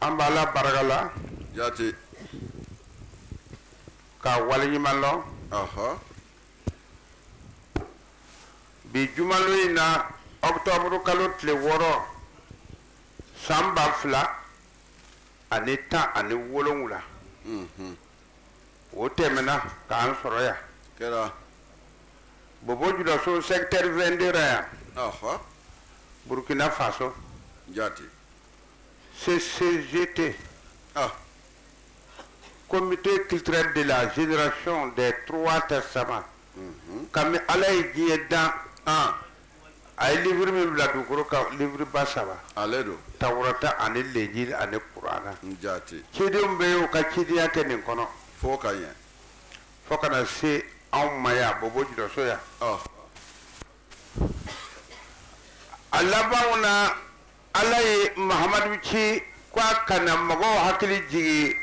An b'Ala barika la jate ka waleɲuman lɔn bi jumalon in na octobre kalo tile wɔɔrɔ san ba fila ani tan ani wolowula mhm. o tɛmɛna k'an sɔrɔ yan kɛra bobo julaso secteur vingt-deux ra yan burkina faso jate CCGT. Ah. Comité culturel de la génération des trois testaments. Mhm. Kami ala ye diɲɛ dan. Ah. A ye livre min bila dugukolo kan livre ba saba. Ale don. Tawurata ani lenjili ani kurana. Jate. Cidenw bɛ y'u ka cidenya kɛ nin kɔnɔ. Fo ka ɲɛ. Fo ka na se anw ma yan Bobo Julaso yan. Ah. A laban na ala ye mahamadu ci k'a ka na mɔgɔw hakili jigin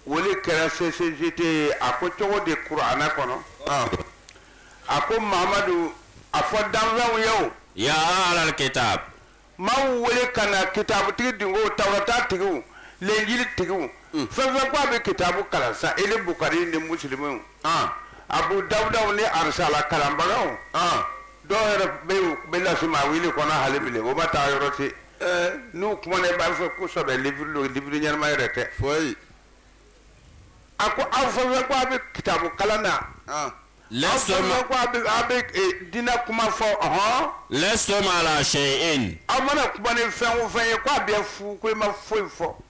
o le kɛra CCGT ye a ko cogo di kurana kɔnɔ a ko mahamadu a fɔ danfɛnw ye ya ahlal kitabi maaw wele ka na kitabutigi dun ko tawurata tigiw lenjili tigiw fɛn fɛn ko a bɛ kitabu kalan sa ile bukari ni muslimu abu dawudaw ni arisala kalanbagaw dɔw yɛrɛ bɛ bɛ lasimawili kɔnɔ hali bile o ma taa yɔrɔ ten n'u kumana i b'a fɔ ko sɛbɛ livre don livre ɲɛnama yɛrɛ tɛ foyi a ko aw fɛn fɛn ko a bɛ kitabu kalan na lastum ko a bɛ a bɛ diinɛ kuma fɔ ɔhɔn lastum ala shay'in aw mana kuma ni fɛn o fɛn ye ko a bɛɛ fu ko i ma foyi fɔ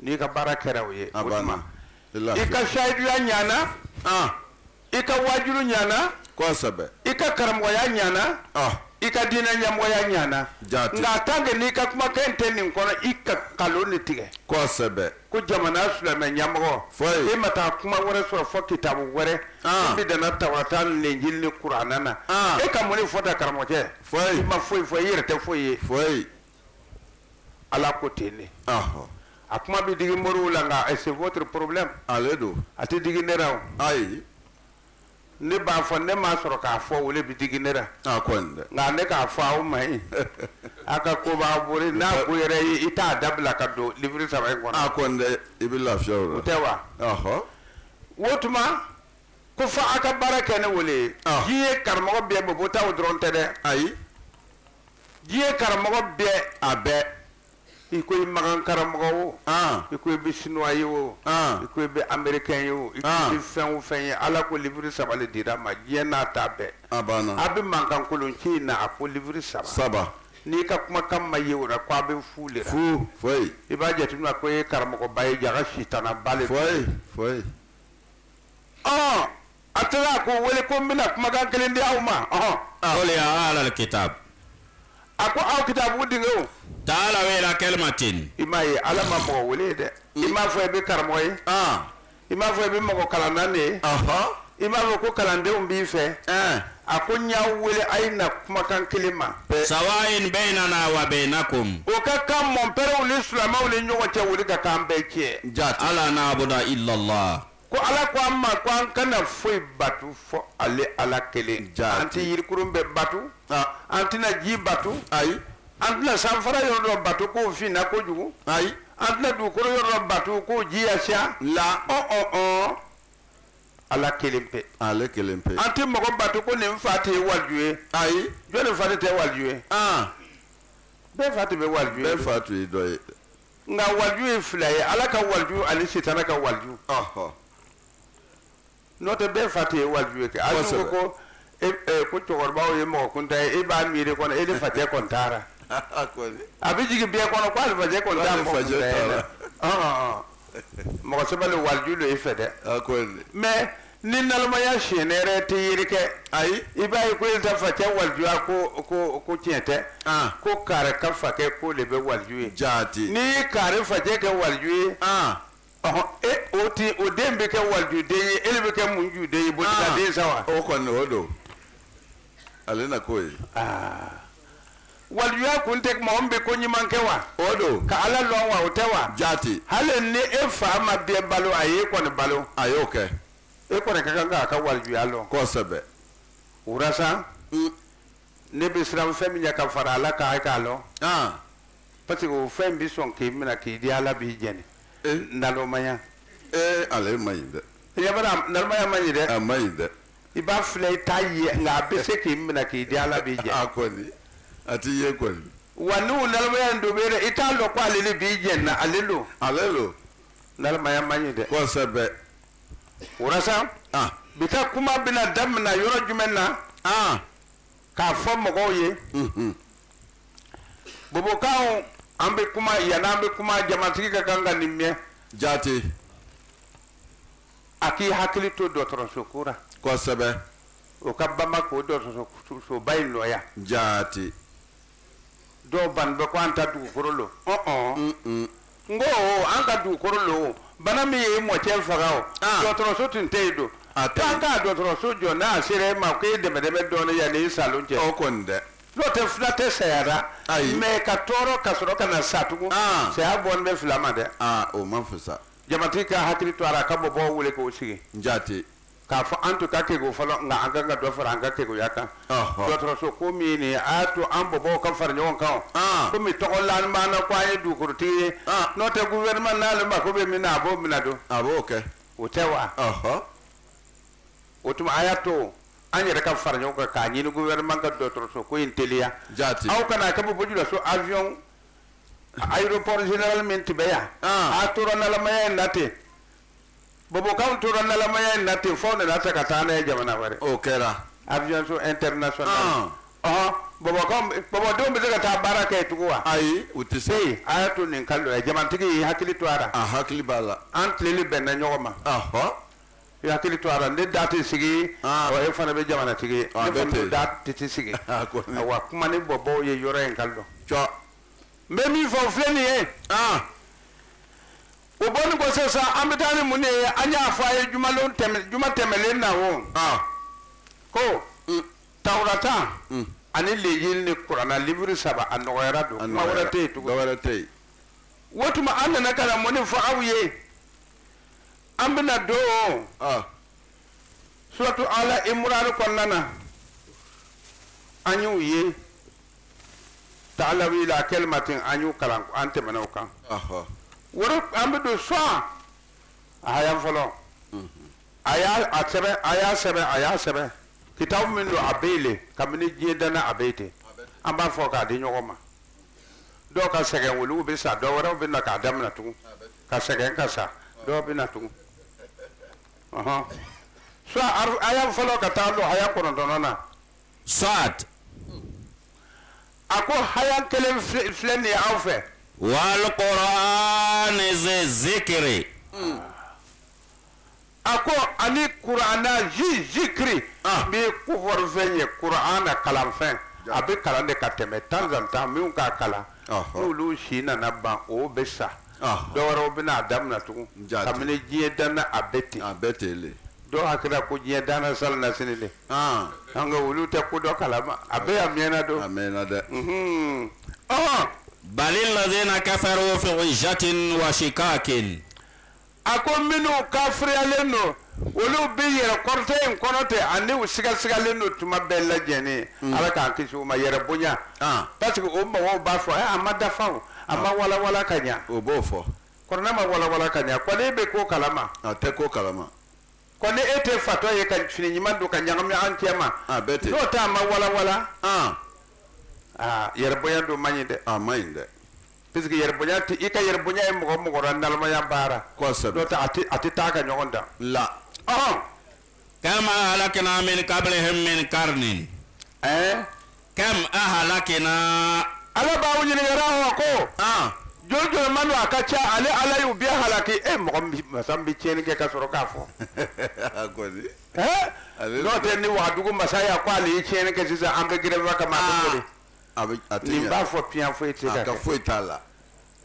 n'i ka baara kɛra o ye i ka sayiduya ɲana i ka wajuru ɲana i ka karamɔgɔya ɲana i ka diinɛ ɲɛmɔgɔya ɲana nka tant que n'i ka kumakan tɛ nin kɔnɔ i ka kalon ne tigɛ ko jamana silamɛ ɲamɔgɔ foyi e ma taa kuma wɛrɛ sɔrɔ fɔ kitabu wɛrɛ bɛ danna tawurata ni lenjili ni kurana na e ka mun ne fɔ tan karamɔgɔcɛ foyi i ma foyi fɔ i yɛrɛ tɛ foyi ye ala ko ten ne a kuma bɛ digi moriw la nka c'est votre problème ale don a tɛ digi ne ra ayi ne b'a fɔ ne m'a sɔrɔ k'a fɔ o le bɛ digi ne ra nka ne k'a fɔ aw ma ye a ka ko b'a bori n'a ko yɛrɛ ye i t'a dabila ka don livre saba in kɔnɔ i bɛ lafiya o tɛ wa o tuma ko fɔ aw ka baara kɛ ni o le ye diɲɛ karamɔgɔ bɛɛ bobo taw dɔrɔn tɛ dɛ ayi diɲɛ karamɔgɔ bɛɛ a bɛɛ i ko i makan karamɔgɔ o ah. i ko i bɛ sinuwa ye o ah. i ko i bɛ amerikɛn ye o i ko i ah. bɛ fɛn o fɛn ye ala ko libiri saba de dira ma diɲɛ n'a ta bɛɛ a bɛ mankan kolon ci in na a ko libiri saba saba n'i ka kumakan ma ye o la ko a bɛ fu de la fu foyi i b'a jateminɛ ko e ye karamɔgɔba ye jaga sitanaba de foyi foyi ɔ A taara a ko wele ko n bɛna kumakan kelen di aw ma ɔhɔn ɔ, qul ya ahlal kitab a ko aw kitabu denkɛw taala ila kalimatin i m'a ye ala ma mɔgɔ wele dɛ i m'a fɔ i bɛ karamɔgɔ ye ah i m'a fɔ i bɛ mɔgɔ kalanna de ye aha i m'a fɔ ko kalandenw b'i fɛ eh a ko n y'aw wele a ye na kumakan kelen ma sawain bainana wa bainakum o ka kan mɔnpɛrɛw ni silamɛw ni ɲɔgɔn cɛ o de ka kan bɛɛ cɛ jaati ala na'budu illa allah Ko Ala ko an ma ko an kana foyi bato fo ale Ala kelen kɔ. Jaati. An tɛ yirikurun bɛɛ bato. Aa. An tɛna ji bato. Ayi. An tɛna sanfara yɔrɔ dɔ bato k'o finna kojugu. Ayi. An tɛna dugukolo yɔrɔ dɔ bato k'o ji ya siya. La. Ɔn-ɔn-ɔn. Ala kelen pe. Ale kelen pe. An tɛ mɔgɔ bato ko ne fa tun ye waliju ye. Ayi. Jɔni fa tun tɛ waliju ye? An. Bɛɛ fa tun bɛ waliju ye. Bɛɛ fa tun ye dɔ ye. nka waliju ye fila ye ala ka waliju ani sitana ka waliju n'o tɛ bɛɛ fa tun ye waliju ye kɛ ala ko ko e, e, ko cɛkɔrɔbaw ye mɔgɔ kuntan ye e b'a miiri kɔnɔ e de facɛ kɔni t'a la a bɛ jigin bɛɛ kɔnɔ ko ale facɛ kɔni tɛ mɔgɔ kuntan ye dɛ mɔgɔ sɛbɛ de waliju de e fɛ dɛ mais ni nalomaya siɲɛ yɛrɛ tɛ yiri kɛ ayi i b'a ye ko e ta facɛ walijuya ko ko ko tiɲɛ tɛ ah. ko kari ka fakɛ ko de bɛ waliju ye jaati ni kari facɛ kɛ waliju ye ah. ɔhɔn e o ti o den bɛ kɛ walijuden ye e de bɛ kɛ munjuden ye bolibaden sa wa o kɔni o don ale na ko ye aa walijuya kun tɛ mɔgɔ min bɛ ko ɲuman kɛ wa o don ka ala lɔn wa o tɛ wa jaati hali ni e fa ma bɛɛ balo a ye e kɔni balo a y'o kɛ e kɔni ka kan k'a ka walijuya lɔn kosɛbɛ wurasa Mm. ne bɛ siran fɛn min ɲɛ ka fara ala kan e k'a lɔn ah parce que o fɛn bɛ sɔn k'i minɛ k'i di ala b'i jɛni ee nalomaya ee ale man ɲi dɛ i ɲɛ b'a la nalomaya man ɲi dɛ a man ɲi dɛ i b'a filɛ i t'a ye nka a bɛ se k'i minɛ k'i di ala b'i jɛni a kɔni a t'i ye kɔni wa n'u nalomaya in dɔ bɛ dɛ i t'a dɔn ko ale de b'i jɛni na ale don ale don nalomaya man ɲi dɛ kosɛbɛ wurasa ah bi ka kuma bɛna daminɛ yɔrɔ jumɛn na ah k'a fɔ mɔgɔw ye mhm bobokaw an bɛ kuma yan an bɛ kuma jamatigi ka kan ka nin mɛn jaati a k'i hakili to dɔgɔtɔrɔso ko ra kosɛbɛ o ka banba k'o dɔgɔtɔrɔsoba in nɔya jaati dɔw bannen bɛ ko an ta dugukolo lo ɔn n ko an ka dugukolo lo bana min y'i mɔcɛ faga o ah. dɔgɔtɔrɔso tun tɛ yen don an ka dɔgɔtɔrɔso jɔ n'a sera e ma ko e dɛmɛ dɛmɛ dɔɔnin yanni sa lon cɛ o kɔni dɛ n'o tɛ fila tɛ saya ra mais ka tɔɔrɔ ka sɔrɔ ka na sa tugun ah. saya bɔlen bɛ fila ma dɛ ah, o man fisa Jamatigi k'a hakili to a la ka bɔbɔw wele k'o sigi jaati k'a fɔ an tun ka kegu fɔlɔ nka an kan ka dɔ fara an ka keguya kan dɔgɔtɔrɔso ko min ye nin ye a y'a to an bɔbɔw ka fara ɲɔgɔn kan kɔmi tɔgɔ lanin b'an na ko an ye dugukolotigi ye n'o tɛ gouvernement n'ale mako bɛ min na a b'o minɛ don a b'o kɛ o tɛ wa o tuma a y'a to an yɛrɛ ka fara ɲɔgɔn kan k'a ɲini gouvernement ka dɔgɔtɔrɔso ko in teliya jaati a kana kɛ Bɔbɔjulaso avion aéroport général min tun bɛ yan Ah. a tora nalamaya in na ten bobokanw tora nalamaya in na ten fo nana ta ka taa n'a ye jamana wɛrɛ o kɛra avion so international Ah. ɔhɔn bobokanw bobodenw bɛ se ka taa baara kɛ yen tugun wa ayi u tɛ se ee a y'a to nin ka lɔ yen jamatigi y'i hakili to a la a hakili b'a la an tileli bɛnna ɲɔgɔn ma ahɔ I hakili to a la ne da tɛ sigi Ah. wa e fana bɛ jamanatigi ye Ah, ne bɛɛ kɔni tɛ. bɛ da tɛ tɛ sigi Ah, ko ne- wa kuma ni bɔbɔw ye yɔrɔ in ka lɔ don n bɛ min fɔ filɛ nin ye aa o bɔnin kɔ sisan an bɛ taa ni mun de ye an y'a fɔ a ye jumalon tɛmɛ juma tɛmɛlen na o aa ko Mm. tawurata Mm. ani lenjili ni kurana livre saba a nɔgɔyara don kuma wɛrɛ tɛ yen tugun dɔwɛrɛ tɛ yen o tuma an nana ka na mun de fɔ aw ye an bɛna don suratu Ali Imran kɔnɔna na an y'u ye ta'alaw ila kalimatin an y'u kalan an tɛmɛna o kan o tuma an bɛ don Sad aya fɔlɔ a y'a a sɛbɛn a y'a sɛbɛn a y'a sɛbɛn kitabu min don a bɛ yen le kabini diɲɛ danna a bɛ yen ten an b'a fɔ k'a di ɲɔgɔn ma dɔw ka sɛgɛn olu bɛ sa dɔw wɛrɛw bɛ na k'a daminɛ tugun ka sɛgɛn ka sa dɔw bɛ na tugun ɔhɔn Sad ar- aya fɔlɔ ka taa don aya kɔnɔntɔnnan na Sad a ko aya kelen filɛ nin ye aw fɛ wal qur'an zi zikri A ko ani kuranɛ zi zikiri min bɛ kofɔrifɛn ye kurana kalanfɛn a bɛ kalan de ka tɛmɛ temps en temps min k'a kalan olu si nana ban o bɛ sa dɔw wɛrɛw bɛna a daminɛ tugun kabini diɲɛ danna a bɛ ten a bɛ ten dɔw hakili la ko diɲɛ danna salonnasini le an olu tɛ ko dɔ kalama a bɛ a mɛnna don a mɛnna dɛ ɔ bal illazina kafaru fi izzatin wa shiqaqin A ko minnu kafiriyalen don olu bɛ yɛrɛ kɔrɔta in kɔnɔ ten ani u sigasigalen don tuma bɛɛ lajɛlen ala k'an kisi u ma yɛrɛ bonya parce que o mɔgɔw b'a fɔ a ma dafa a ma walawala ka ɲɛ o b'o fɔ kuranɛ ma walawala ka ɲɛ ko ni e bɛ ko kalama tɛ ko kalama ko ni e tɛ fatɔ ye ka fini ɲuman don ka ɲagami an cɛ ma n'o tɛ a ma walawala aa yɛrɛ bonya don man ɲi dɛ a man ɲi dɛ Parce que yɛrɛbonya i ka yɛrɛbonya ye mɔgɔ mɔgɔ la nalomaya baara a tɛ taa ka ɲɔgɔn da la kam ahlakna min kablihim min karnin ɛɛ kam ahlakna ala b'aw ɲininka la ko jɔn jɔn man don a ka ca ale ala y'u bɛɛ halaki e mɔgɔ masa bɛ tiɲɛn kɛ ka sɔrɔ k'a fɔ n'o tɛ ni wagadugu masaya ko ale ye tiɲɛn kɛ sisan an bɛ grève kama a bɛ a tɛ nin ɲa. b'a fɔ piyan foyi tɛ a ka ka kɛ foyi t'a la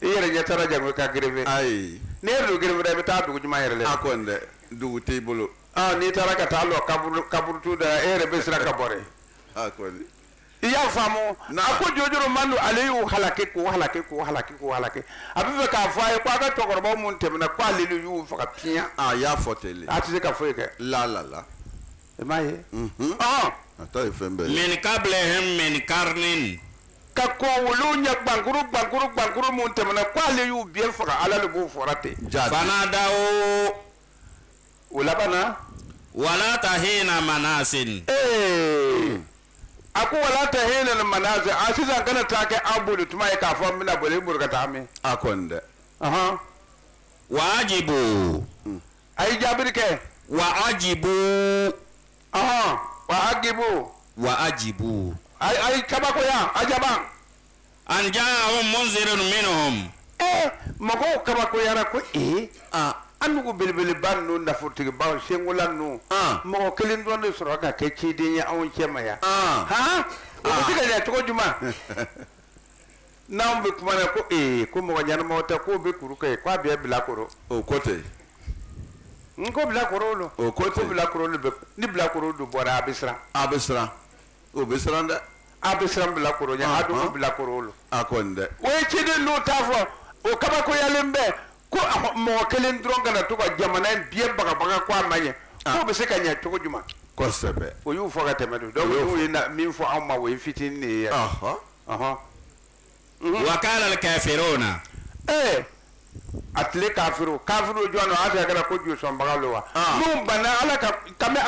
i yɛrɛ ɲɛ t'a ra jango i ka grève ayi n'i ye don grève la i bɛ taa dugu jumɛn yɛrɛ la a kɔni dɛ dugu t'i bolo Ah, n'i taara ka taa lɔ kaburu kaburutu da la e yɛrɛ bɛ siran ka bɔ dɛ a kɔni i y'a faamu Na. a ko jojoro man don ale y'u halaki k'u halaki k'u halaki k'u halaki a bɛ fɛ k'a fɔ a ye ko a ka cɛkɔrɔba minnu tɛmɛna ko ale de y'u faga piyan a y'a fɔ ten le a tɛ se ka foyi kɛ la la la i m'a ye a ta ye fɛn bɛɛ min kablihim min karnin ka kɔn olu ɲɛ gbankuru gbankuru gbankuru minnu tɛmɛna k'ale y'u bɛɛ faga ala de b'o fɔra ten fanadaw u labanna wa lata hina manasin ee a ko wa lata hina manasin a sisan kana taa kɛ an boli tuma ye k'a fɔ n bɛna boli n boli ka taa min a kɔni dɛ wa ajibu a ye jaabiri kɛ wa ajibu ɔhɔn wa ajibu wa ajibu a a ye kabakoya ajaba an jaahum munzirun minhum ee mɔgɔw kabakoyara ko ee ah an nugu belebeleba ninnu nafolotigibaw senkola ninnu ah mɔgɔ kelen dɔrɔn de sɔrɔ ka kɛ ciden ye anw cɛma yan ah han o bɛ se ka ɲɛ cogo jumɛn n'an bɛ kuma ko ee ko mɔgɔ ɲɛnama tɛ k'o bɛ kuru kɛ k'a bɛ bilakoro o ko ten n ko bilakoro don o ko ten bilakoro bɛ ni bilakoro don bɔra a bɛ siran a bɛ siran o bɛ siran dɛ a bɛ siran bilakoro ɲɛ a dun bilakoro don a kɔni dɛ o ye ciden n'o t'a fɔ o kabakoyalen bɛ ko mɔgɔ kelen dɔrɔn ka na to ka jamana in bɛɛ bagabaga ko a ma ɲɛ k'o bɛ se ka ɲɛ cogo jumɛn kosɛbɛ o y'u fɔ ka tɛmɛ don dɔw y'u ye min fɔ anw ma o ye fitinin de ye wara kɛ feere o na ee a tile k'a jɔn kɛra ko josɔnbaga wa ala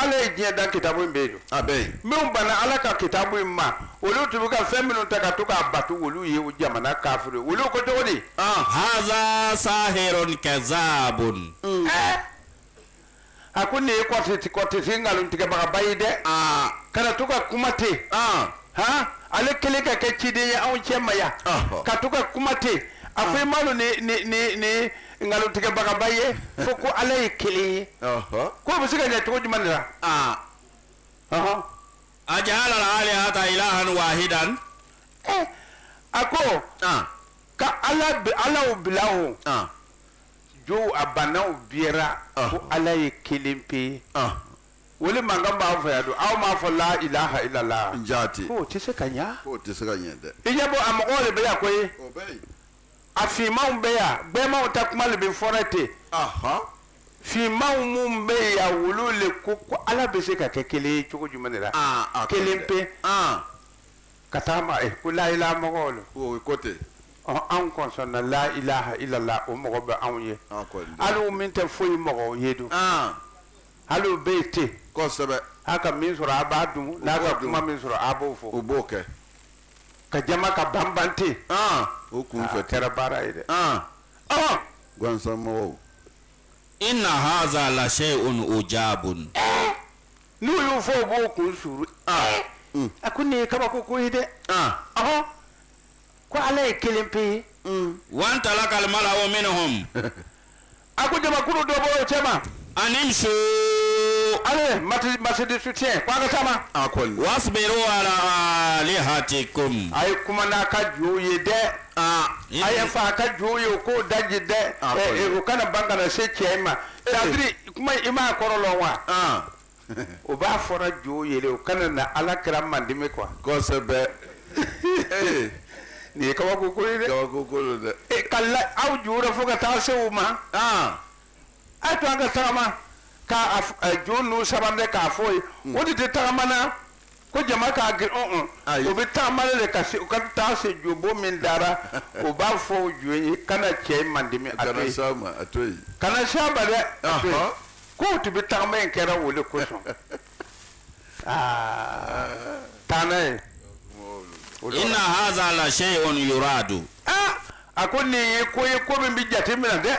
ala ye diɲɛ da kita bɛ yen a minnu banna ala ka kita in ma olu tun ka fɛn minnu ta ka to k'a batu olu ye u jamana ka olu ko cogo sa kɛsaabo a ko nin ye kɔrɔtɛtigi nkalon tigɛbaga ba ye dɛ aa kana to ka kuma ten aa han ale kelen ka kɛ ciden ye anw cɛ ma yan Ɔhɔ. ka to ka kuma ten a ko i m'a lɔn nin nkalon tigɛbaga ba ye fo ko ala ye kelen ye ɔhɔ k'o bɛ se ka ɲɛ cogo jumɛn de la aa ɔhɔn ajala alihata ilahan wahidan ɛ a ko aa ka ala bi alaw bila o aa jo a bannaw bira ko ala ye kelen pe ye o le mankan b'a fɛ yan don aw m'a fɔ la ilaha illallah jate o tɛ se ka ɲɛ tɛ se ka ɲɛ dɛ i ɲɛ bɔ a mɔgɔw de bɛ yan koyi a finmanw bɛ yan gbɛmanw ta kuma de bɛ fɔra ten finmanw minnu bɛ yan olu de ko ko ala bɛ se ka kɛ kelen cogo jumɛn de la kelen pe Ka taama ɛ ko la ilaha mɔgɔw la o ko ten ɔ en concernant la ilaha illallah o mɔgɔ bɛ anw ye hali min tɛ foyi mɔgɔw ye don hali bɛ yen ten kosɛbɛ a ka min sɔrɔ a b'a dun n'a ka kuma min sɔrɔ a b'o fɔ o b'o kɛ ka jama ka banbante o kun fɛ kɛra baara ye dɛ gansan mɔgɔw ina haza la shay'un ujabun N'u y'o fɔ u b'o kun sulu, aa, un, a ko nin ye kabako ko ye dɛ, an, ɔhɔ, ko Ala ye kelen pe ye, wantalaka al mala'u minhum, a ko jamakulu dɔ bɔra u cɛma, animshu, allez marche de soutien ko an ka taama, wasbiru ala alihatikum, a ye kuma n'a ka jo ye dɛ, aa, a ye fa ka jo ye ko daji dɛ, a ko nin, u kana ban ka na se cɛ in ma Sabari kuma i m'a kɔrɔ lɔn wa o b'a fɔra jo ye le u kana na ala kira mandimi kuwa kosɛbɛ nin ye kabako ko dɛ e ka aw ju fo ka taa se u ma a to an ka tagama ka jo n'u saba k'a fɔ ye o de tɛ tagama na ko jama ka girin un un o bɛ taama de ka se u ka taa se jobon min dara o b'a fɔ o jo ye kana cɛ in mandimi a kana s'a ma a to yen kana s'a ma dɛ a to yen k'o tun bɛ taama in kɛra o de kosɔn aa taa n'a ye. ina haza la shay'un yuradu a ko nin ye ko ye ko min bɛ jate minɛ dɛ.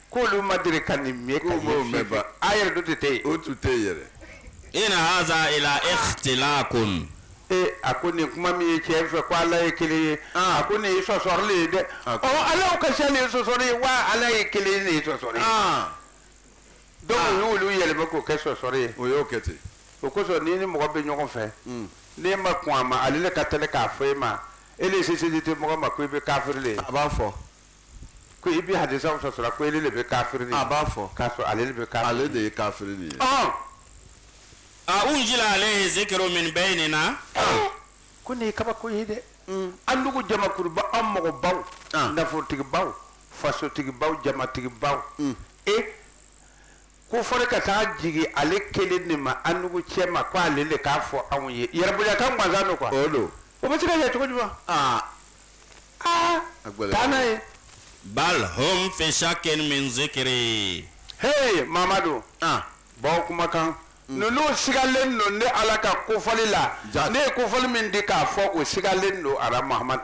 K'olu ma deli ka nin mɛn ka ye fiye fiye. A yɛrɛ tun tɛ ten. O tun tɛ yen yɛrɛ. In haza ila ikhtilakun. Ee a ko nin kuma min ye cɛ fɛ ko Ala ye kelen ye. A ko nin ye sɔsɔli ye dɛ. Ɔ Alaw ka ca nin sɔsɔli ye wa Ala ye kelen ye nin ye sɔsɔli ye. Donc u y'olu yɛlɛma k'o kɛ sɔsɔli ye. O y'o kɛ ten. O kosɔn n'i ni mɔgɔ bɛ ɲɔgɔn fɛ. N'e ma kɔn a ma ale de ka tɛli k'a fɔ e ma e de se seli tɛ mɔgɔ ma ko i bɛ kafiri le ye. A b'a fɔ. ko i bɛ hadisa sɔsɔ ko e de bɛ kafiri a b'a fɔ k'a sɔrɔ ale de bɛ kafiri ale de ye kafiri de ye a unzila alayhi zikru min baynina ko nin ye kabako ye dɛ mm. an dugu jamakuruba an mɔgɔbaw nafolotigibaw fasotigibaw jamatigibaw mm. e kofɔli ka taa jigin ale kelen de ma an dugu cɛma ko ale de k'a fɔ anw ye yɛrɛbonyakan gansan don quoi o don o bɛ se ka ɲɛ cogo jumɛn aa aa a gɛlɛyara. taa n'a ye bal hum fi shakin min zikri hey mamadu ah baw kumakan ninnu sigalen don ne ala ka kofɔli la Jaa. ne ye kofɔli min di k'a fɔ o sigalen don ara mahamadu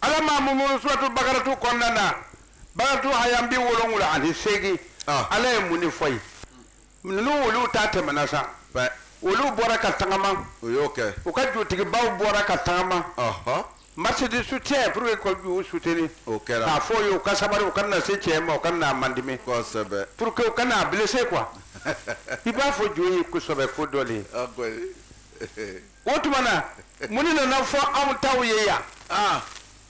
ala ma mumu suratu bakaratu kɔnɔna na bakaratu haya bi wolonwula ani seegin ah. ala ye mun de fɔ yen ninnu olu ta tɛmɛna sa olu bɔra ka tagama u y'o kɛ u ka jutigibaw bɔra ka tagama marche de soutien pour que ka jo soutenir o kɛra k'a fɔ u ye u ka sabari u kana na se cɛ ma u kana na mandimi kosɛbɛ pour que u kana na blessé quoi i b'a fɔ jo ye kosɛbɛ ko dɔ le ye o tuma na mun de nana fɔ anw taw ye yan ah.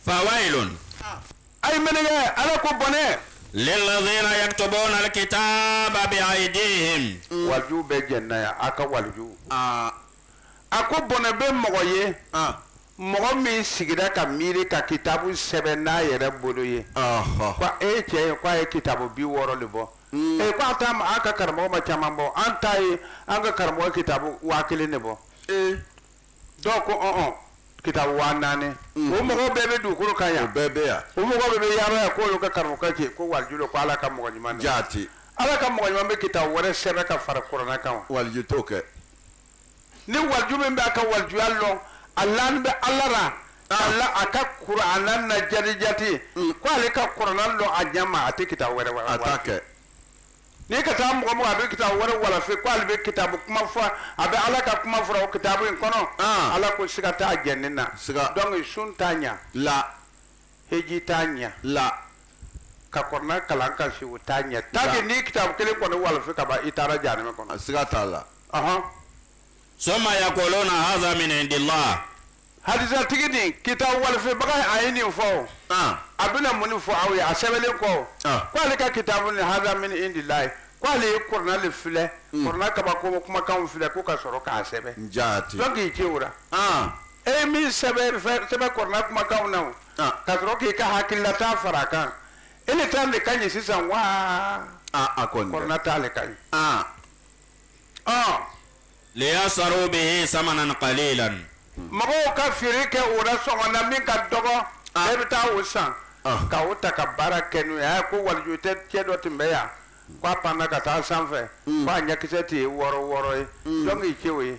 fawailun ah. a ye mɛnni kɛ ala ko bɔnɛ lilladhina yaktubuna alkitaba biaidihim mm. walijuw bɛɛ jɛnina yan a ka walijuw ah. a ko bɔnɛ bɛ mɔgɔ ye mɔgɔ min sigira ka miiri ka kitabu sɛbɛn n'a yɛrɛ bolo ye ko e cɛ ko a ye kitabu bi wɔɔrɔ de bɔ Mm. Eh, ko an ta an ka karamɔgɔ ma caman bɔ an ta ye an ka karamɔgɔ kitabu waa kelen de bɔ eh. dɔw ko ɔn kitabu waa naani mm. o mɔgɔw bɛɛ bɛ dugukolo kan yan o bɛɛ bɛ yan o mɔgɔw bɛɛ bɛ yaala yan k'olu ka karamɔgɔkɛ ko waliju don ko ala ka mɔgɔ ɲuman jaati ala ka mɔgɔ ɲuman bɛ kitabu wɛrɛ sɛbɛn ka fara kurana kan wa waliju t'o kɛ ni waliju min b'a ka walijuya lɔn a lannin bɛ ala ra a a ka kurana na jaati jaati mm. ko ala ka kurana lɔn a ɲɛ ma a tɛ kitabu wɛrɛ wa a t'a kɛ n'i ka taa mɔgɔ mɔgɔ a bɛ kitabu wɛrɛ walafe ko ale bɛ kitabu kuma fɔ a bɛ ala ka kuma fɔra o kitabu in kɔnɔ ah. ala ko siga t'a jɛni na siga donc sun t'a ɲa la heji t'a ɲa la ka kurana kalan ka si o t'a ɲa tant que n'i kitabu kelen kɔni walafe ka ban i taara jahanama kɔnɔ siga t'a la summa yakuluna haza min indillahi hadisatigi ni kitabu walifibaga a ye nin fɔ a bɛna mun fɔ aw ye a sɛbɛlen kɔ k'ale ka kitabu nin haza min indillahi k'ale ye kuranɛ le filɛ kuranɛ kabako kumakanw filɛ k' ka sɔrɔ k'a sɛbɛn jɔn k'i ci o la e ye min sɛbɛn kuranɛ kumakanw na ka sɔrɔ k'i ka hakililata fara a kan e le ta de ka ɲi sisan wa a kuranɛ ta le ka ɲi liyashtaru bihi samanan kalilan mɔgɔw ka feere kɛ o la sɔngɔ na min ka dɔgɔ e le bɛ taa o san ka o ta ka baara kɛ n'o ye ko waliju tɛ cɛ dɔ tun bɛ yan k'a panna ka taa sanfɛ k'a ɲɛkisɛ tɛ ye wɔɔrɔ wɔɔrɔ ye jɔn k'i ci o ye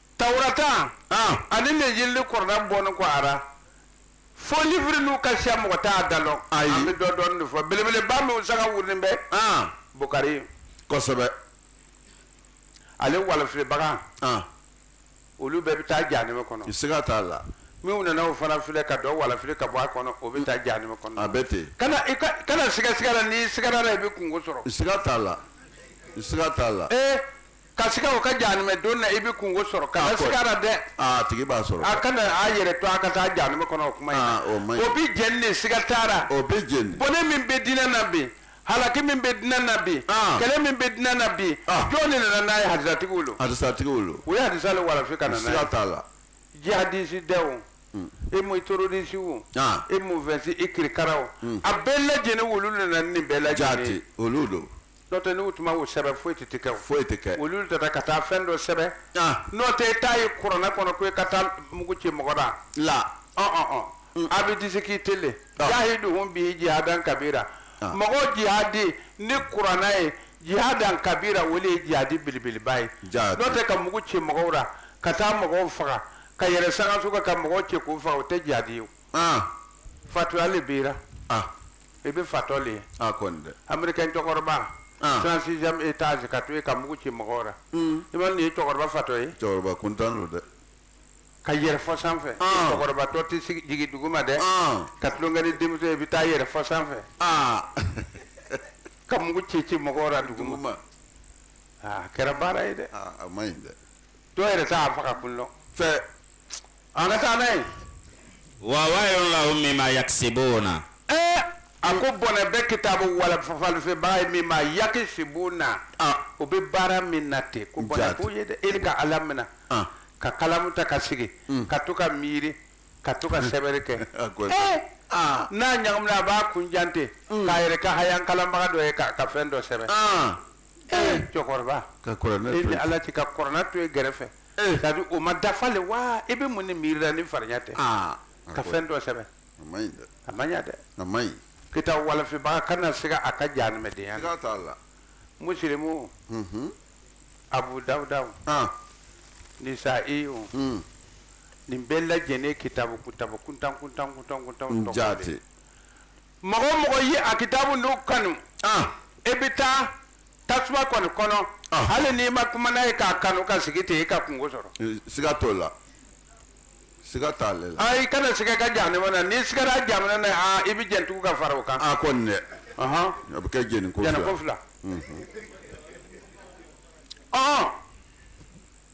Tawurata ani Lenjili kɔrɔ n'a bɔnin kɔ a ra faux livre nunu ka siya mɔgɔ t'a da dɔn an bɛ dɔ dɔɔnin de fɔ belebeleba min sanga wulilen bɛ Bukari kosɛbɛ ale walifibaga olu bɛɛ bɛ taa jahanama kɔnɔ siga t'a la minnu nana o fana filɛ ka dɔ walifi ka bɔ a kɔnɔ o bɛ taa jahanama kɔnɔ a bɛ ten kana siga a la n'i sigara a la i bɛ kungo sɔrɔ siga t'a la siga t'a la Ka siga o ka jahanamɛ don na i bɛ kungo sɔrɔ kana siga a la dɛ, aa a tigi b'a sɔrɔ, a kana a yɛrɛ to a ka taa jahanama kɔnɔ o kuma in na, o man ɲi, o bɛ jeni de siga t'a la, o bɛ jeni, bɔnɛ min bɛ diinɛ na bi halaki min bɛ diinɛ na bi kɛlɛ min bɛ diinɛ na bi jɔn de nana n'a ye hadisatigiw don, hadisatigiw don, u ye hadisa de walafi ka na n'a ye, siga t'a la, jihadisi dɛ o, e mun tororisi o, e mun fɛnsi e kirikara o, a bɛɛ lajɛlen olu de nana ni nin bɛɛ lajɛlen ye, jaati olu don N'o tɛ n'u tun ma o sɛbɛn foyi tɛ kɛ foyi tɛ kɛ olu taara ka taa fɛn dɔ sɛbɛn n'o tɛ e t'a ye kuranɛ kɔnɔ ko e ka taa mugu ci mɔgɔ la la a bɛ dise k'i t jahiduhum bihi jihadan kabira mɔgɔ jihadi ni kuranɛ ye jihadan kabira o le ye jihadi belebeleba ye ja n'o tɛ ka mugu ci mɔgɔw la ka taa mɔgɔw faga ka yɛrɛ sanso ka ka mɔgɔw cɛ k'u faga o tɛ jihadi ye o fatɔya le bɛ i bɛ fatɔ le ye a kɔni dɛ americain cɛkɔrɔba Ah. 36e étage ka to yen ka mugu ci mɔgɔw la i ma nin ye cɛkɔrɔba fatɔ ye cɛkɔrɔba kuntan don dɛ ka yɛrɛ fo sanfɛ Ah. cɛkɔrɔba tɔ tɛ jigin duguma dɛ Ah. ka tulonkɛ ni denmuso ye i bɛ taa yɛrɛ fo sanfɛ aa ka mugu ci ci mɔgɔw la duguma duguma Ah, a kɛra baara ye dɛ aa a man ɲi dɛ dɔw yɛrɛ t'a faga kun dɔn fɛ An ka taa n'a ye. Wa waylun lahum mimma yaksibuna. Ee a ko bɔnɛ bɛ kitabu walifa walifibaga ye mimma yakisibuna. An. O bɛ baara min na ten. Ko bɔnɛ b'u ye dɛ. E ka Ala minɛ. An. Ka kalamu ta ka sigi. Un. Ka to ka miiri. Ka to ka sɛbɛnni kɛ. A ko. Ee. Aa. N'a ɲagamina a b'a kun jan ten. Un. K'a yɛrɛ kɛ haya kalanbaga dɔ ye k'a ka fɛn dɔ sɛbɛn. An. ee cɛkɔrɔba ka kuranɛ e ni ala cɛ ka kuranɛ to e gɛrɛfɛ Eh. c'est-à-dire o ma dafa le wa e bɛ mun ne miiri la ni farinya tɛ aa ka fɛn dɔ sɛbɛn a man ɲi dɛ a man ɲa dɛ a man ɲi kitabu walifibaga kana siga a ka jahanamɛdenya na siga t'a la musilimu Mhm. abu dawudaw ah nisaiw mm. nin bɛɛ lajɛlen kitabu kutabu kuntan kuntan kuntan kuntan n tɔgɔ de. jaati mɔgɔ o mɔgɔ ye a kitabu n'u kanu e bɛ taa tasuma kɔni kɔnɔ hali n'i ma kuma n'a ye k'a kanu ka sigi ten i ka kunko sɔrɔ siga t'o la siga t'ale la i kana siga ka jahanama na n'i sigara jahanama na i bɛ jeni tugu ka fara o kan a kɔni dɛ a bɛ kɛ jeni ko fila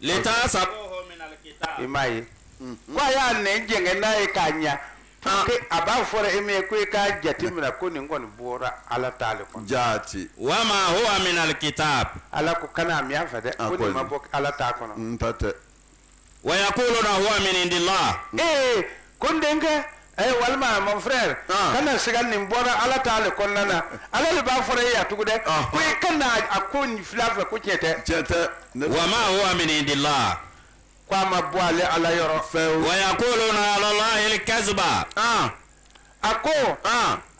litahsabuhu min alkitab i m'a ye ko a y'a nɛn jɛngɛ n'a ye k'a ɲa pour que a b'a fɔra e min ye ko i k'a jate minɛ ko nin kɔni bɔra ala ta le kɔnɔ jaati wama huwa min alkitab ala ko kana a mɛn a fɛ dɛ A ko ko nin ma nin. bɔ ala ta kɔnɔ n ta tɛ wa yaquluna huwa min indillah ee ko n denkɛ a ye walima mon frère ah. kana siga nin bɔra ala ta le kɔnɔna na ala le b'a fɔra e y'a tugu dɛ ah. ko i kana a ko nin fila fɛ ko tiɲɛ tɛ tiɲɛ tɛ wa ma huwa min indillah ko a ma bɔ ale ala yɔrɔ fɛw wa yaquluna ala allahi alkaziba ah. a ko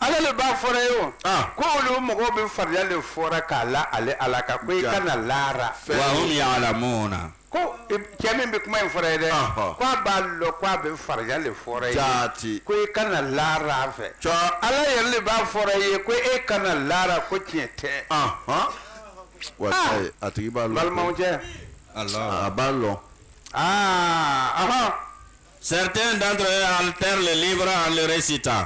ala le b'a fɔra ye o ko olu mɔgɔw bɛ fariya le fɔra k'a la ale ala kan ko i kana laara wa hum ya'lamuna ko cɛ min bɛ kuma in fɔra ye dɛ ko a b'a lɔn ko a bɛ fariya le fɔra ye jaati ko i kana laara a fɛ cɔ ala yɛrɛ le b'a fɔra ye ko e kana laara ko tiɲɛ tɛ wa a tigi b'a lɔn balimaw cɛ a b'a lɔn aa ahɔn Certains d'entre eux altèrent le livre en le récitant.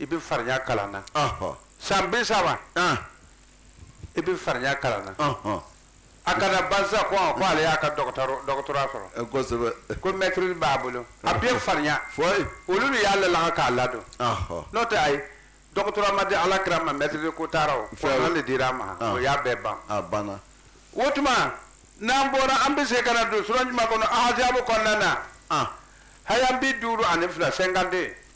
i bɛ farinya kalan na san bi saba i bɛ farinya kalan na a ka na ban sa ko ale y'a ka doctorat sɔrɔ ko maîtrise b'a bolo a bɛ farinya olu de y'a lalaga k'a ladon n'o tɛ ayi doctorat ma di ala kira ma maîtrise ko taara de dira a ma o y'a bɛɛ ban o tuma n'an bɔra an bɛ se ka na don sura jumɛn kɔnɔ ahazabu kɔnɔna na haya bi duuru ani fila cinquante-deux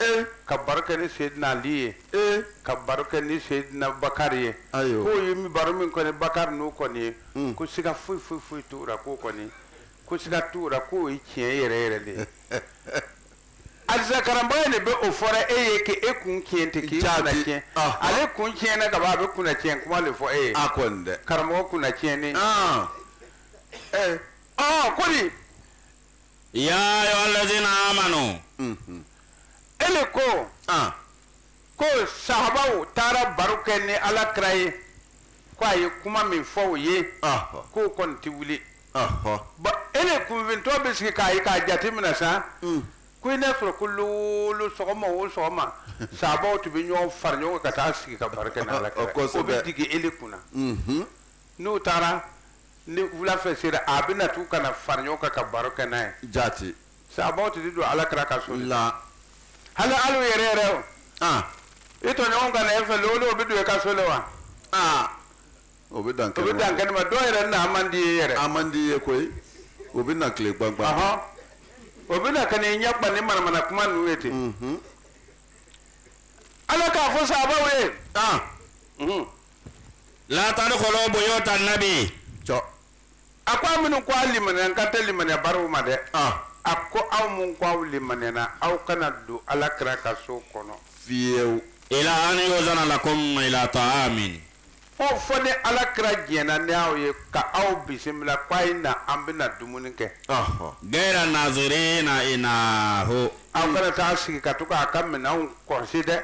ee ka baro kɛ ni seyidina ali ye ee ka baro kɛ ni seyidina bakari ye ayiwa k'o ye baro min kɛ ni bakari nu kɔni ye hmm. ko siga foyi foyi foyi t'u la k'o kɔni ko siga t'u la k'o ye tiɲɛ yɛrɛ yɛrɛ de ye alisa karanbaga de bɛ o fɔra e ye k'e kun tiɲɛ tɛ k'i kunna tiɲɛ ah. ale kun tiɲɛna ka ban a bɛ kunna tiɲɛ kuma de fɔ e ye a kɔni dɛ karamɔgɔ kunna tiɲɛni ah. ee eh. ɔ ah, ko nin yaa ayuha lazina amanu ele ko ko sahabaw taara baro kɛ ni ala kira ye k' a ye kuma min fɔ o ye k'o kɔni tɛ wuli ele kunfintɔ bɛ sigi k'a ye k'a jate minɛ sa ko i n'a sɔrɔ ko lon o lon sɔgɔma o sɔgɔma sahabaw tun bɛ ɲɔgɔn fara ɲɔgɔn kan ka taa sigi ka baro kɛ ni ala kira o bɛ digi ele kunna n'u taara ni wulafɛ sera a bɛ na tugun ka na fara ɲɔgɔn kan ka baro kɛ n'a ye jaati sahabaw tɛ don ala kira ka so la hali hali yɛrɛ yɛrɛ o ah i tɔɲɔgɔn ka na e fɛ lon o lon o bɛ don e ka so la wa ah o bɛ dan o bɛ dan kɛnɛ ma dɔw yɛrɛ na man di i ye yɛrɛ a man di i ye koyi o bɛ na tile gbangba ahɔn o bɛ na ka n'i ɲɛ gba ni manamana kuma ninnu ye ten ala k'a fɔ sahabaw ye ah La tadkhulu buyuta nabiyi a ko aw minnu ko aw limaniya n kan tɛ limaniyabaliw ma dɛ a ko aw minnu ko aw limaniyana aw kana don ala kira ka so kɔnɔ fiyew ila an yuzana lakum ila ta'amin fo ni ala kira jɛnna ni aw ye ka aw bisimila k' a ye na an bɛna na dumuni kɛ gaira nazirina inahu aw kana taa sigi ka to k'a ka minɛnw kɔlɔsi dɛ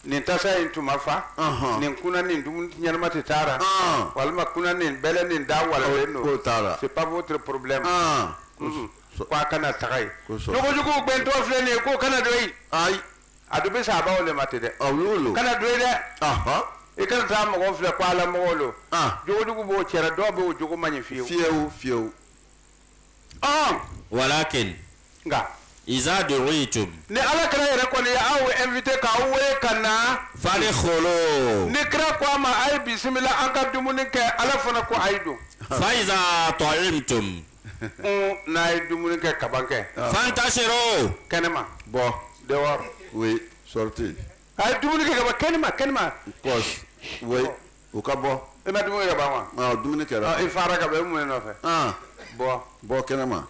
nin tasa in tun ma fa Ɔnhɔn. nin kunan nin dumuni ɲɛnama tɛ taara Ɔn. walima kunan nin bɛlɛ nin da walalen don K'o taara. c'est pas votre problème Ɔn. Mhm. ko i kana taga yen Kosɔn. jogojuguw gbɛntɔ filɛ nin ye k'o kana don yen ayi a dun bɛ sahabaw le ma ten dɛ aw y'o lo kana don yen dɛ Ɔnhɔn. i kana taa mɔgɔw filɛ ko ala mɔgɔw lo Ɔn. jogojugu b'o cɛ ra dɔw bɛ o jogo man ɲi fiyewu fiyewu fiyewu walakin nka iza du'itum ni ala kira yɛrɛ kɔni ye aw invité ka aw wele ka na fadkhulu ni kira ko aw ma a ye bisimila an ka dumuni kɛ ala fana ko a ye don fa iza ta'imtum n'a ye dumuni kɛ ka ban kɛ fantashiru kɛnɛma bɔ dehors sortez a ye dumuni kɛ ka ban kɛnɛma kɛnɛma o ka bɔ i ma dumuni kɛ ban wa ɔ dumuni kɛra i fara ka bɔ i mun ye nɔfɛ aa bɔ bɔ kɛnɛma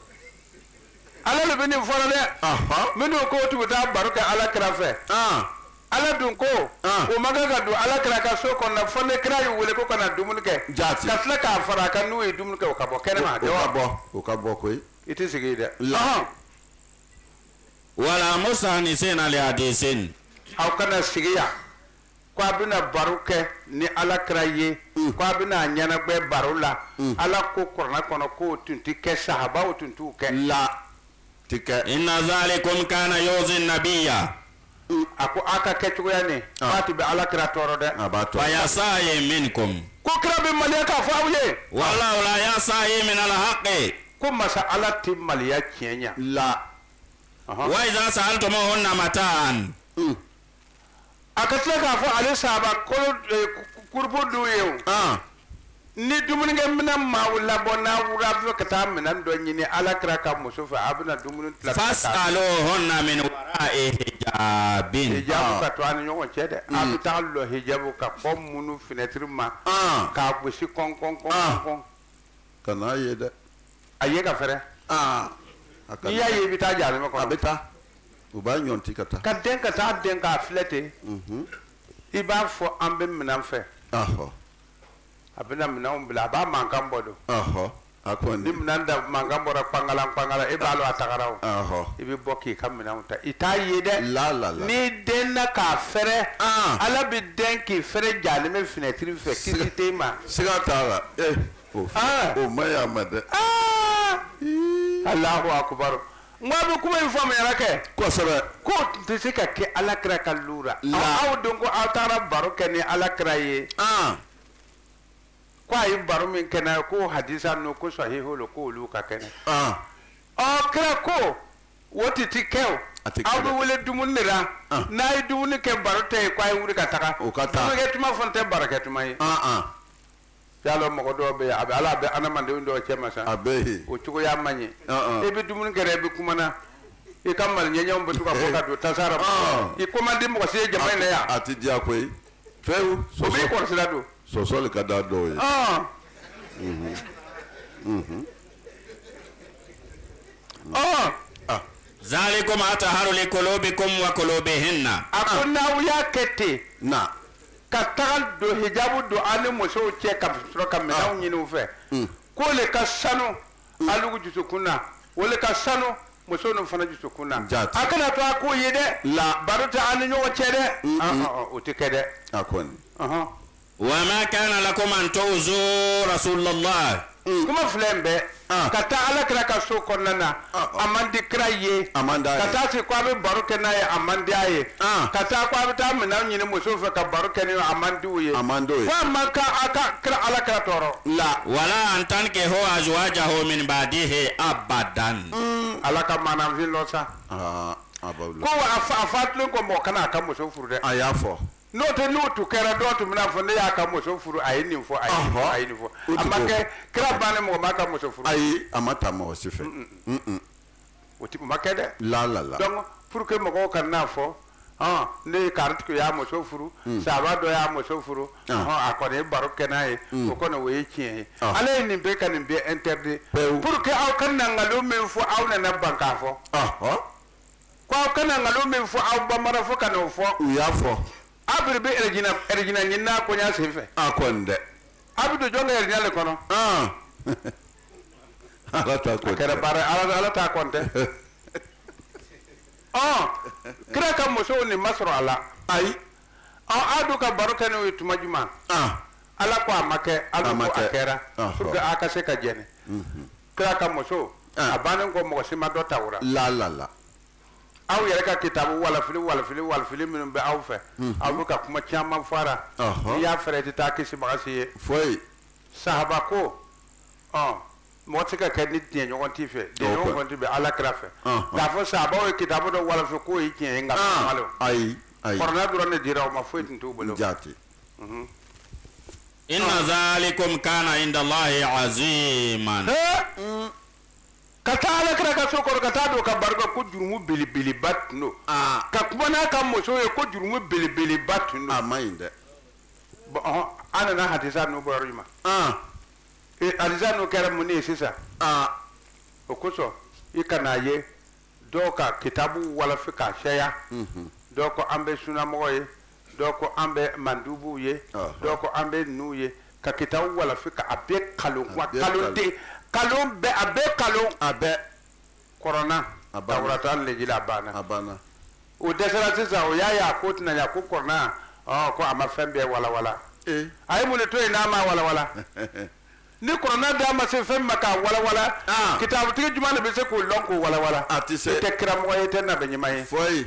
ala le bɛ nin fɔ ra dɛ ahɔ minnu ko tun bɛ taa baro kɛ ala kira fɛ aa ala dun ko Ah. o ma kan ka don ala kira ka so kɔnɔ fo ni kira y'u wele k'o ka na dumuni kɛ Jaati. ka tila k'a fara a kan n'u ye dumuni kɛ o ka bɔ kɛnɛma o dɛ ka bɔ o ka bɔ koyi i tɛ sigi yen dɛ La. Ɔhɔn. wala mustanisina li hadisin aw kana sigi yan K' a bɛna baro kɛ ni ala kira ye k' a bɛna a ɲɛnagbɛ baro la ala ko kurana kɔnɔ k'o tun tɛ kɛ sahabaw tun t'o kɛ la tɛ kɛ inna zalikum kana yu'zi nabiyya a ko aw ka kɛ cogoya ne ba tun bɛ ala kira tɔɔrɔ dɛ a b'a tɔɔrɔ fa yastahyi minkum ko kira bɛ maliya k'a fɔ aw ye wallahu la yastahyi min al-haqqi ko masa ala tɛ maliya tiɲɛ la wa iza sa'altumuhunna mata'an a ka tila k'a fɔ ale sahaba kulu eh, kurupu dun ye o ah. ni dumunikɛ minɛn ma aw labɔ n'a wura a bɛ ka taa minɛn dɔ ɲini ala kira ka muso fɛ a bɛna dumuni tila fas'aluhunna min wara'i hijabin hijabu ah. ka to a ni ɲɔgɔn cɛ dɛ a bɛ hmm. taa lɔ hijabu ka kɔ munu fenɛtiri ma ah. k'a gosi kɔn kɔn kɔn kɔn kan'a ye dɛ a ye k'a fɛrɛ aa a ka n'i y'a ye i bɛ taa jahanama a kɔnɔ bɛ taa u b'a ɲɔnti ka taa ka dɛn ka taa dɛn k'a filɛ ten Mhm. i b'a fɔ an bɛ minɛn fɛ ɔhɔ a bɛna minɛnw bila a b'a mankan bɔ don ɔhɔ a ni kɔni minɛn da mankan bɔra kpangalan kpangalan e b'a lɔn a tagara o ɔhɔ i bɛ bɔ k'i ka minɛnw ta i t'a ye dɛ la la la n'i dɛnna k'a fɛrɛ Ah. ala bɛ dɛn k'i fɛrɛ jahanama finɛtiri fɛ kisi tɛ i ma siga t'a la ee o ah! o ma ɲi a ma dɛ ah! alahu akubaru n ko a bɛ kuma in faamuyara kɛ kosɛbɛ k'o tɛ se ka kɛ ala kira ka lura aw don ko aw taara baro kɛ ni ala kira ye ah! ko a ye baro min kɛ n'a ye ko hadisa ninnu ko sahihu lo ko olu ka kɛnɛ ɔ kira ko o ti ti kɛ o aw bɛ wele dumuni de la ah. n'a ye dumuni kɛ baro tɛ yen ko a ye wuli ka taga o ka taa dumunikɛ tuma fana tɛ barokɛ tuma ye ah, ah. y'a lɔn mɔgɔ dɔw bɛ yen a bɛ ala bɛ adamadenw dɔw cɛma sa a bɛ o cogoya man ɲi e bɛ dumuni kɛra i bɛ kumana i ka maloɲɛɲɛw bɛ to ka bɔ ka don tasara i ko man di mɔgɔ si ye jama in na yan a tɛ diya koyi fewu i kɔlɔsira don sɔsɔli ka da dɔw ye zalikum atharu li qulubikum wa qulubihinna a ko n'a y'a kɛ ten na ka taga don hijabu don a ni musow cɛ ka sɔrɔ ka minɛnw ah. ɲini u fɛ hmm. k'o le ka sanu hmm. alugu jusukun na o le ka sanu muso ninnu fana jusukun na a kana to a k'o ye dɛ la baro tɛ a ni ɲɔgɔn cɛ dɛ hmm, ah, ah, o tɛ kɛ dɛ a kɔni wa ma kana lakum an tu'zu rasulullah Mm. kuma fila in bɛɛ ah. ka taa ala kira ka so kɔnɔna na ah, ah. a man di kira ye ka taa se ko a bɛ baro kɛ n'a ye a man di a ye ka taa ko a bɛ taa minɛn ɲini musow fɛ ka baro kɛ ni a man di u ye fo a man kan a ka kira ala kira tɔɔrɔ la wala an tankihu azwajahu min ba'dihi abadan mm. ala ka maanafin dɔ sa ko a fa a fatulen kɔ mɔgɔ kana a ka muso furu dɛ a y'a fɔ n'o tɛ n'o tun kɛra dɔw tun bɛna fɔ ne y'a ka muso furu a ye nin fɔ a ye nin fɔ a ye nin fɔ O a ma kɛ kira bannen mɔgɔ m'a ka muso furu ayi a ma ta mɔgɔ si fɛ Mm-mm. o tɛ o ma kɛ dɛ la la la donc pour que mɔgɔw kan'a fɔ hɔn ne ye karitigi y'a muso furu Mm. sahaba dɔ y'a muso furu Ah. hɔn a kɔni ye baro kɛ n'a ye Mm. o kɔni o ye tiɲɛ ye Ah. ala ye nin bɛɛ ka nin bɛɛ interdit Pewu. pour que aw kana nkalon min fɔ aw nana ban k'a fɔ Ɔhɔ. Ko aw kana nkalon min fɔ aw b'a mara fɔ ka n'o fɔ u y'a fɔ aw bɛ bɛ arijinɛ ɲini n'a koɲa sen fɛ a kɔni dɛ aw bɛ don jɔn ka arijinɛ le kɔnɔ ala ta kɔni kɛra baara ala ala ta kɔni tɛ ɔ kira ka musow nin ma sɔrɔ a la ayi ɔ aw dun ka baro kɛ n'o ye tuma jumɛn ala ko a ma kɛ ala ko a kɛra pour que aw ka se ka jɛni kira ka muso ah. a bannen kɔ mɔgɔ si ma dɔ ta o ra la la la aw yɛrɛ ka kitabu walafili walafili walafili minnu bɛ aw fɛ mhm. aw bɛ ka kuma caman fara n'i y'a fɛrɛ i tɛ taa kisibaga si ye foyi sahaba ko ɔ mɔgɔ tɛ ka kɛ ni jɛɲɔgɔn t'i fɛ jɛɲɔgɔn kɔni tun bɛ ala kira fɛ k'a fɔ sahabaw ye kitabu dɔ walafi k'o ye tiɲɛ ye nka malo ah, ayi ayi kuranɛ dɔrɔn de dira u ma foyi tun t'u bolo jaati mhm. inna zalikum kana inda Allahi aziman. ka taa ala kira ka so kɔrɔ ka taa don ka baro kɛ ko jurumu belebeleba tun don ah. ka kuma n'a ka muso ye ko jurumu belebeleba tun don a ma ɲi dɛ an nana hadisa nunu bɔra i ma ah. e, hadisa nunu kɛra mun ye sisan ah. o kosɔn i kana ye dɔw ka kitabu walafi k'a sɛya mhm. dɔw ko an bɛ sunamɔgɔ ye dɔw ko an bɛ mandubuw ye dɔw ko an bɛ nu ye ka kitabu walafi ka a bɛɛ nkalon nkalon de nkalon bɛɛ a bɛɛ nkalon a bɛɛ kuranɛ tawurata lejila a banna a banna o dɛsɛra sisan o y'a y'a ko tɛna ko kuranɛ ko a ma fɛn bɛɛ walawala a ye mun to yen n'a ma walawala ni kuranɛ da ma se fɛn ma ka walawala kitabutigi jumɛn de bɛ se k'o dɔn k'o walawala a tɛ se tɛ karamɔgɔ ye tɛ na bɛ ɲuman ye fɔ ye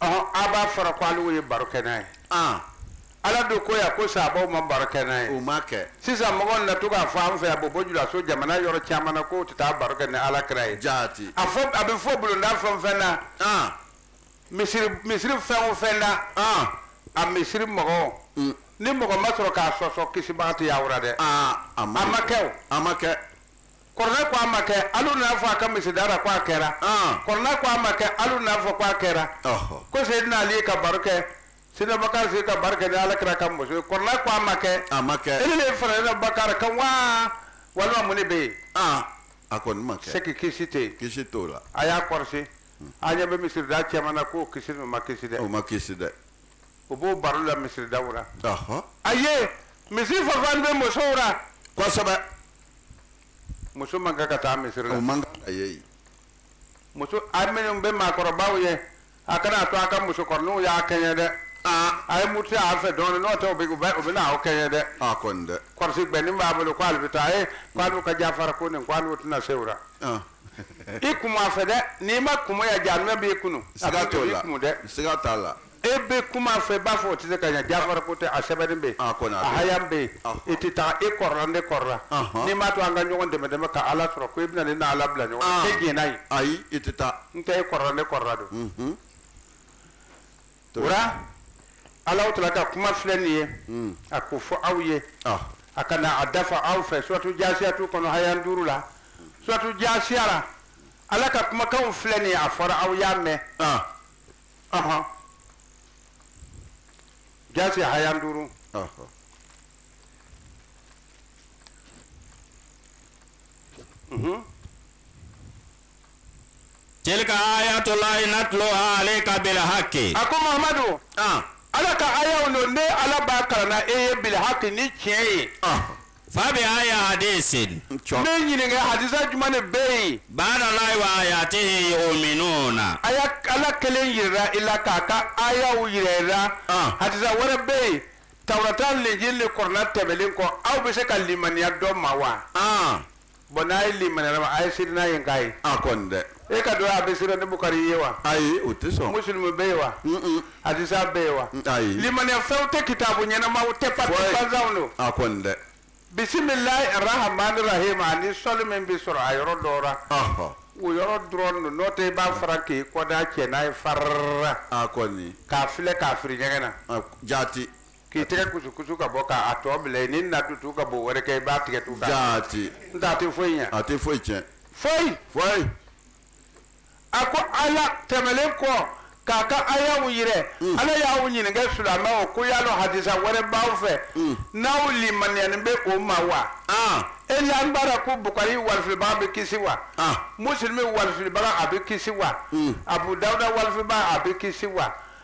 A b'a fɔra ko ale ye baro kɛ n'a ye ala dun ko ko sahabaw ma baro kɛ n'a ye o ma kɛ sisan mɔgɔ na to k'a fɔ an fɛ yan bɔbɔ julaso jamana yɔrɔ caman na ko tɛ taa baro kɛ ni ala kira ye jaati a bɛ fɔ bulonda fɛn o fɛn na misiri fɛn o fɛn na a misiri mɔgɔ ni mɔgɔ ma sɔrɔ k'a sɔsɔ kisibaga tɛ ye aw ra dɛ a ma kɛ a ma kɛ kɔrɔnɛ ko a ma kɛ alu n'a fɔ a ka misirida ra ko a kɛra kɔrɔnɛ ko a ma kɛ alu n'a fɔ ko a kɛra ko seyidina ali ka baro kɛ seyidina bakari sigi ka baro kɛ ni alakira ka muso ye kɔrɔnɛ ko a ma kɛ a ma kɛ ele de farala bakari kan wa walima mun de bɛ yen a kɔni ma kɛ seki kisi tɛ yen kisi t'o la a y'a kɔrɔsi a ɲɛ bɛ misirida cɛman na ko kisi o ma kisi dɛ o ma kisi dɛ o b'o baro la misiridaw la a ye misiri fafan bɛ musow la kosɛbɛ muso man kan ka taa misiri la o man kan a ye muso a minnu bɛ maakɔrɔbaw ye a kana to a ka musokɔrɔninw y'a kɛɲɛ dɛ a ye muruti a fɛ dɔɔnin n'o tɛ u bɛna aw kɛɲɛ dɛ a kɔni dɛ kɔrɔsi gbɛnin b'a bolo k'ale bɛ taa ye k'ale ka jafara ko nin k'ale tɛna se o la i kun a fɛ dɛ n'i ma kun ya jaanimɛ b'i kunu a kɛtɔ i kunu dɛ siga t'a la e bɛ kuma fɛ i b'a fɔ o tɛ se ka ɲɛ jafara ko tɛ a sɛbɛnnen bɛ yen ah, a haya bɛ yen ah. i tɛ taa e kɔrɔla ne kɔrɔla ah, n'i m'a to an ka ɲɔgɔn dɛmɛ dɛmɛ ka ala sɔrɔ ko i bɛna ne n'ala bila ɲɔgɔn na e diɲɛna yen ayi i tɛ taa n tɛ e kɔrɔla ne kɔrɔla don mhm. o la ala tala ka kuma filɛ nin ye mm. a ko fɔ aw ye a kana a dafa aw fɛ suratu jasiyatu kɔnɔ haya duuru la suratu jasiya la ala ka kumakanw filɛ nin ye a fɔra aw y'a mɛn Aɔn jasiya haya duuru tilika ayatu lahi natuluha aleyika bili haki a ko mahamadu ala ka ayaw don ne ala b'a kalan e ye bili haki ni tiɲɛ ye Fa bi ayi hadisin ne ɲininka hadisa jumɛn de bɛ yen baada lahi wa ayatihi yuminuna ala kelen jira i la k'a ka ayaw jira i la hadisa wɛrɛ bɛ yen tawurata linjili ni kɔrɔna tɛmɛnen kɔ aw bɛ se ka limaniya dɔ ma wa Bon n'a ye limaniyara a ma, a ye sira n'a ye n k'a ye. A kɔni dɛ! E k'a dɔn a bɛ sira ni Bukari ye wa? Ayi, o tɛ sɔn. Musilimu bɛ yen wa? Un-un. Hadisa bɛ yen wa? Ayi. Limaniya fɛnw tɛ kitabu ɲɛnamaw tɛ, papier gbansanw don. A kɔni dɛ! Bisimilahi arahamani rahimu ani sɔli min bɛ sɔrɔ a yɔrɔ dɔw la. Ɔhɔ! O yɔrɔ dɔrɔn don, n'o tɛ i b'a fara k'i kɔda cɛ n'a ye farrrra! A kɔni! K'a filɛ k'a firi ɲɛgɛn na. Ɔk! Jaati! K'i tɛgɛ kusukusu ka bɔ k'a tɔ bila yen n'i na tugu ka bo wɛrɛ kɛ i b'a tigɛ tugun jaati n t'a tɛ foyi ɲɛ a tɛ foyi tiɲɛ foyi foyi a ko ala tɛmɛlen kɔ k'a ka ayaw yira mm. ala y'aw ɲininka sulamaw ko yala hadisa wɛrɛ b'aw fɛ mm. n'aw limaniyanin bɛ o ma wa ah. e lanin b'a ra ko bukari walifilibaga bɛ kisi wa ah. musulmi walifilibaga a bɛ kisi wa mm. abu dawuda walifilibaga a bɛ kisi wa